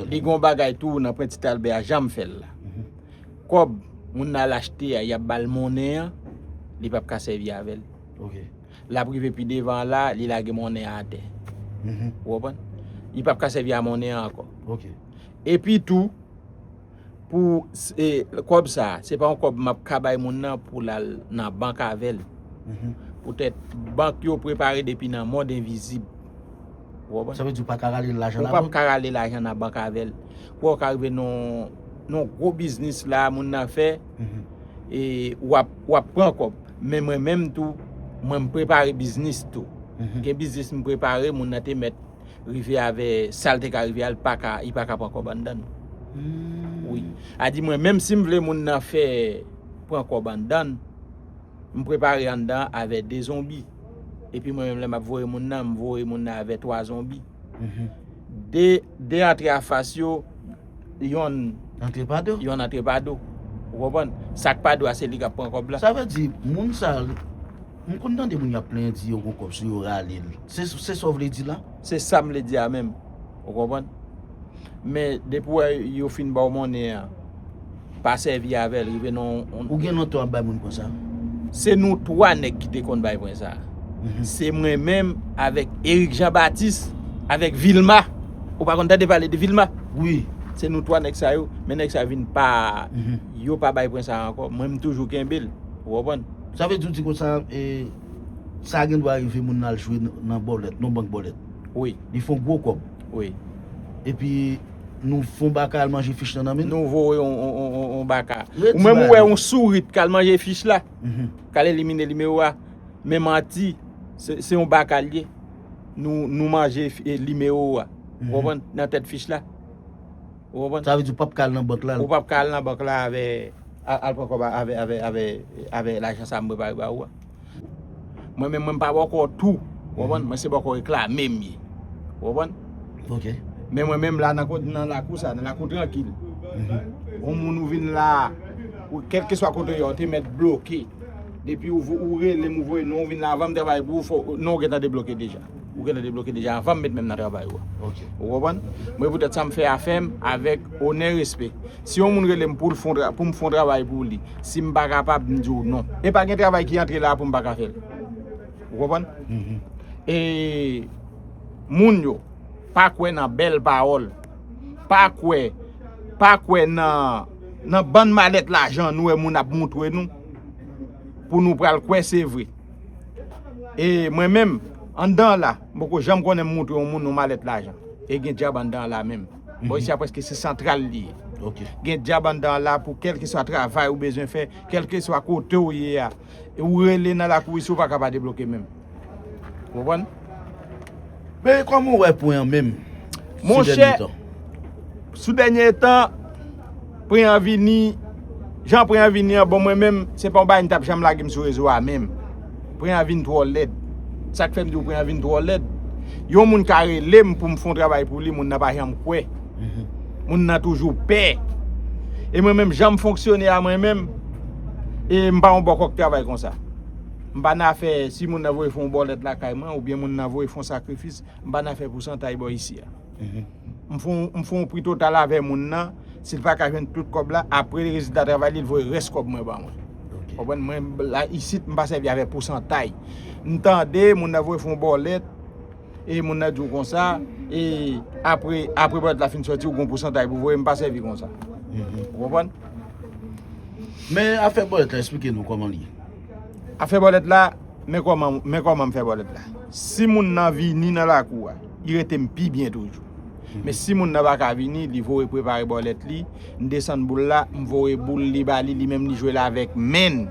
Li gon bagay tou nan pwen tit albè a janm fèl la kòb moun nan al achte a yap bal monnen an li pap ka sèvi avèl lap rive pi devan an la li lage monnen an atè ou konprann li pap ka sèvi a monnen an ankò epi tou Pou kob sa, se pa yon kob map ka bay moun nan pou lal nan bank avel. Poutet bank yo prepare depi nan mond envizib. Ou konprann? Sa vle di ou pa ka rale lajan nan bank? Ou pap ka rale lajan nan bank avel. Kouwa ou ka rive nan gwo biznis la moun nan fe, e wap pran kob. Men mwen menm tou, mwen m prepare biznis tou. Gen biznis m prepare moun nan te met. rive avè sal te ka rive al paka li paka pran kòb anndann wi a di mwen menm sim vle moun nan fè pran kòb anndann m prepare anndan avè 2 zonbi epi mwen menm lè map voye moun nan m voye moun nan avè 3 zonbi 2 antre a fas yo. Yon antre pa do. Yon antre pa do. Ou konprann? Sa k pa do a se li k ap pran kòb la. Sa vle di moun sa yo, m konn tande moun y ap plenyen di yo gen kòb sou yo rale l. Se sa w vle di la? Se sa m vle di a menm. Ou konprann? Men depi w wè yo fin ba w monnen an. pa sèvi avèl rive nan yon. Ou gen lontan wap bay moun pwen sa? Se nou 3 nèg ki te konn bay pwen sa. Se mwen menm avèk Eric Jean Baptiste avèk Vilma. Ou pa konn tande pale de Vilma? Wi. Se nou 3 nèg sa yo, men nèg sa yo vin pa yo pa bay pwen sa ankò, mwen m toujou kenbel. Ou konprann? Sa vle di ou di konsa e sa gen dwa rive moun nan al jwe nan bòlèt, nan bank bòlèt. Wi. Li fon gwo kòb. Wi. Epi nou fon baka al manje fich nan nan menn. Nou voye yon baka. Ou menm ou wè yon sourit kal manje fich la. Kal elimine li me wa. Men manti. Se yon baka li. Nou manje li me wa. Ou konpon nan tet fich la. Ou konpon. Sa vezi ou pap kal nan bank la. Ou pap kal nan bank la ave. Al poko ba ave. Ave lajan sa mwen pare ba ou. Mwen menm mwen pa bòkò tou Ou konprann Mwen se bòkò reklame m ye Ou konprann Ok Men mwen menm la nan kot nan lakou sa Nan lakou trankil On moun ou vin la Ou kèlkeswa kote ou ye ou te mèt bloke Depi ou ou rele m ou voye non ou vin la avan m travay pou ou fò non ou gentan debloke deja Ou gentan debloke deja avan m met men m nan travay ou a Ok Ou konprann Mwen poutèt sa m fè afè m avèk onè respè Si yon moun rele m pou l fon travay, pou m fon travay pou li, si m pa kapab, m di w non. E pa gen travay ki antre la a pou m pa ka fè l. Ou konprann? E moun yo pa kwè nan bèl pawòl, pa kwè, pa kwè nan, nan bann malèt lajan nou wè moun ap montre nou, pou nou pral kwè se vre. E mwen menm, anndan la, m poko janm konnen m montre yon moun yon malèt lajan. E gen dyab anndan la menm. Bon isi a preske se santral li ye. Gen djab anndan an la pou kèlkeswa travay ou bezwen fè, kèlkeswa kote ou ye a. Ou rele nan lakou isi ou pa ka pa debloke menm. Ou konprann? Men kòman ou wè pwen an menm sou dènye tan? Monchè, sou dènye tan. Preanvini, jan Preanvini an bon mwen menm, se pa yon bagay m tap janm lage m sou rezo a menm. Preanvin twò lèd. Sa k fè m di w Preanvin twò lèd, yon moun ka rele m pou m fè yon travay pou li, moun nan pa janm kwè. Moun nan toujou pè. E mwen menm jan m fonksyone a mwen menm, e m pa yon bòkò k travay konsa. M pa nan afè si moun nan voye fè yon bòlèt lakay mwen oubyen moun nan voye fè yon sakrifis, m pa nan afè pousantay bò isi a. m fon m fon yon pri total avè moun nan si l pa ka jwenn tout kòb la apre rezilta travay li l voye rès kòb mwen ba mwen ou konprann mwen la isit m pa sèvi avè pousantay m tande moun nan voye fon bòlèt e moun nan di w konsa e apre apre bòlèt la fin sòti ou gon pousantay pou voye m pa sèvi konsa ou konprann men afè bòlèt la esplike nou kòman l ye Ap fè bòlèt la, men kòman, men kòman m fè bòlèt la. Si moun nan vini nan lakou a, li rete m pi byen toujou. Men si moun nan pa ka vini, li voye prepare bòlèt li, m desann boul la, m voye boul li ba li, li menm li jwe l avèk men l.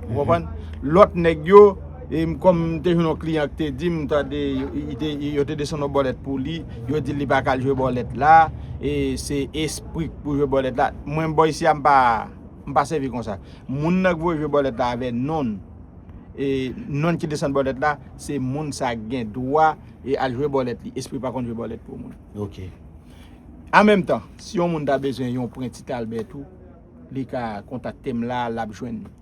Ou konprann? Lòt nèg yo, e m kòm m te jwenn yon kliyan ki te di m, m tande li te, yo te desann yon bòlèt pou li, yo di l li pa ka al jwe bòlèt la, e se espri k pou jwe bòlèt la. Mwen bò isi a m pa. M pa sèvi konsa. Moun nan k voye vye bòlèt la avè non l. E non ki desann bòlèt la, se moun sa k gen dwa e al jwe bòlèt li. Espri pa konn jwe bòlèt pou moun. Ok. An menm tan, si yon moun ta bezwen yon pren Ti Talbè tou, li ka kontakte m la, l ap jwenn li.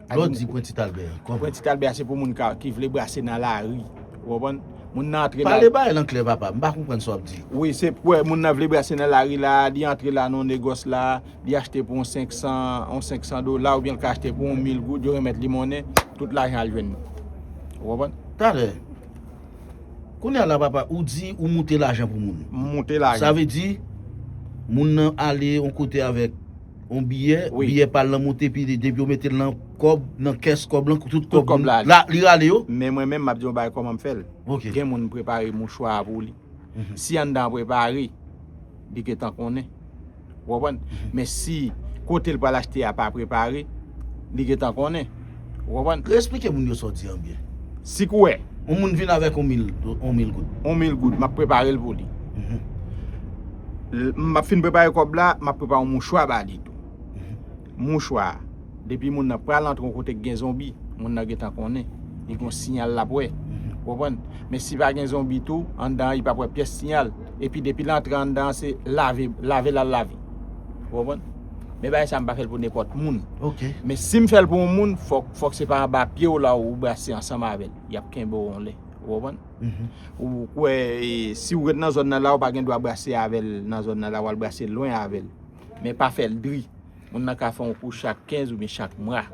Lè w di pren Ti Talbè a, kòman? Pren Ti Talbè a se pou moun ka, ki vle brase nan lari. Ou konprann? Moun nan antre la. Pale bagay lan klè papa, m pa konprann sa w ap di. Wi, se pou wè moun nan vle brase nan lari la, li antre la nan yon negòs la. Li achte pou yon 500 dola oubyen li ka achte pou yon 1000 goud, yo remèt li monnen, tout lajan al jwenn nou. Ou konprann? Talè, kounye a la papa, ou di ou moute lajan pou moun. M moute lajan. Sa vle di, moun nan ale yon kote avèk yon biyè, biyè pa l lan moute epi depi yo mete l lan kòb, nan kès kòb lan, tout kòb la, li rale yo. Men mwen menm m ap di yon bagay kòman m fè l. Gen moun m prepare mouchwa a pou li. Si anndan an prepare, li gentan konnen. Ou konprann? Men si kote l pral achte a pa prepare, li gentan konnen. Ou konprann? Re-esplike moun yo sa w di an byen. Si k wè. Yon moun vin avèk yon mil goud. Yon mil goud, m ap prepare l pou li. M ap fin prepare kòb la, m ap prepare yon mouchwa ba li tou. Mouchwa, depi moun nan pral antre yon kote k gen zonbi, moun nan gentan konnen. Li gon siyal l ap wè. Ou konprann? Men si pa gen zonbi tou, anndan an li p ap wè pyès siyal. Epi depi l antre anndan an se lave, lave l al lave. Ou konprann? Men bagay sa a m pa fè l pou nenpòt moun. Men si m fè l pou yon moun, fòk se pa anba pye w la ou brase ansanm avè l. Y ap kenbe w yon lè. Ou konprann? Ou kwè si w ret nan zòn nan la ou pa gen dwa brase avè l nan zòn nan la, w al brase lwen avè l. men pa fè l dri. Moun nan ka fè yon kou chak 15 oubyen chak mwa.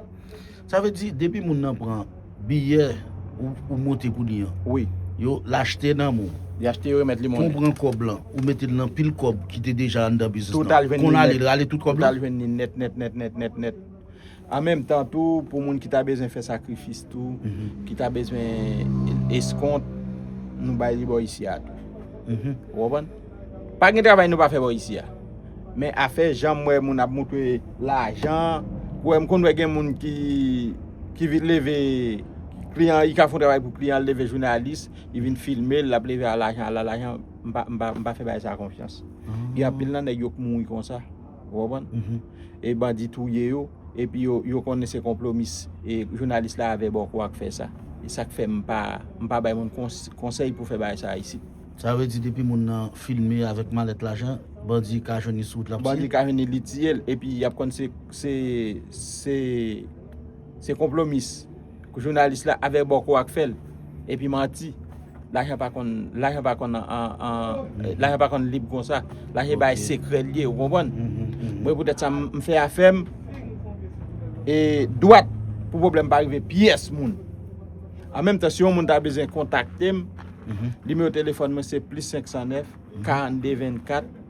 Sa vle di depi moun nan pran biyè ou monte kou li an. Wi. Yo l achte nan men w. Li achte yo remèt li monnen. Kon w pran kòb lan ou mete l nan pil kòb ki te deja anndan biznis lan. Total jwenn li nèt. Kon w ale l rale tout kòb lan. Total jwenn li nèt nèt nèt nèt nèt nèt. An menm tan tou, pou moun ki ta bezwen fè sakrifis tou, ki ta bezwen eskont, nou bay li bò isi a tou. Ou konprann? Pa gen travay nou pa fè bò isi a. Men afè jan m wè moun ap montre lajan, ou wè m konn wè gen moun ki vin leve kliyan, li ka fè yon travay pou kliyan, li leve jounalis, li vin filme l, l ap leve a lajan, a la lajan, m pa fè bagay sa a konfyans. Gen anpil nan nèg yo k mouri konsa. Ou konprann? E bandi touye yo, epi yo konnen se konplomis e jounalis la avè bòkò ak fè sa. E sa k fè m pa m pa bay moun konsèy pou fè bagay sa a isit. Sa vle di depi moun nan filme avèk malèt lajan, bandi ka jwenn li sou wout l ap tiye l? Bandi ka jwenn li, li tiye l. Epi y ap konn se se se konplomis. Jounalis la avè bòkò ak fèl epi manti lajan pa konn lajan pa konn lajan pa konn lib konsa lajan bay sekrè liye ou konprann mwen poutèt sa m fè afèm e dwat pou problèm pa rive pyès moun an menm tan si yon moun ta bezwen kontakte m nimewo telefòn mwen se plis 509 42 24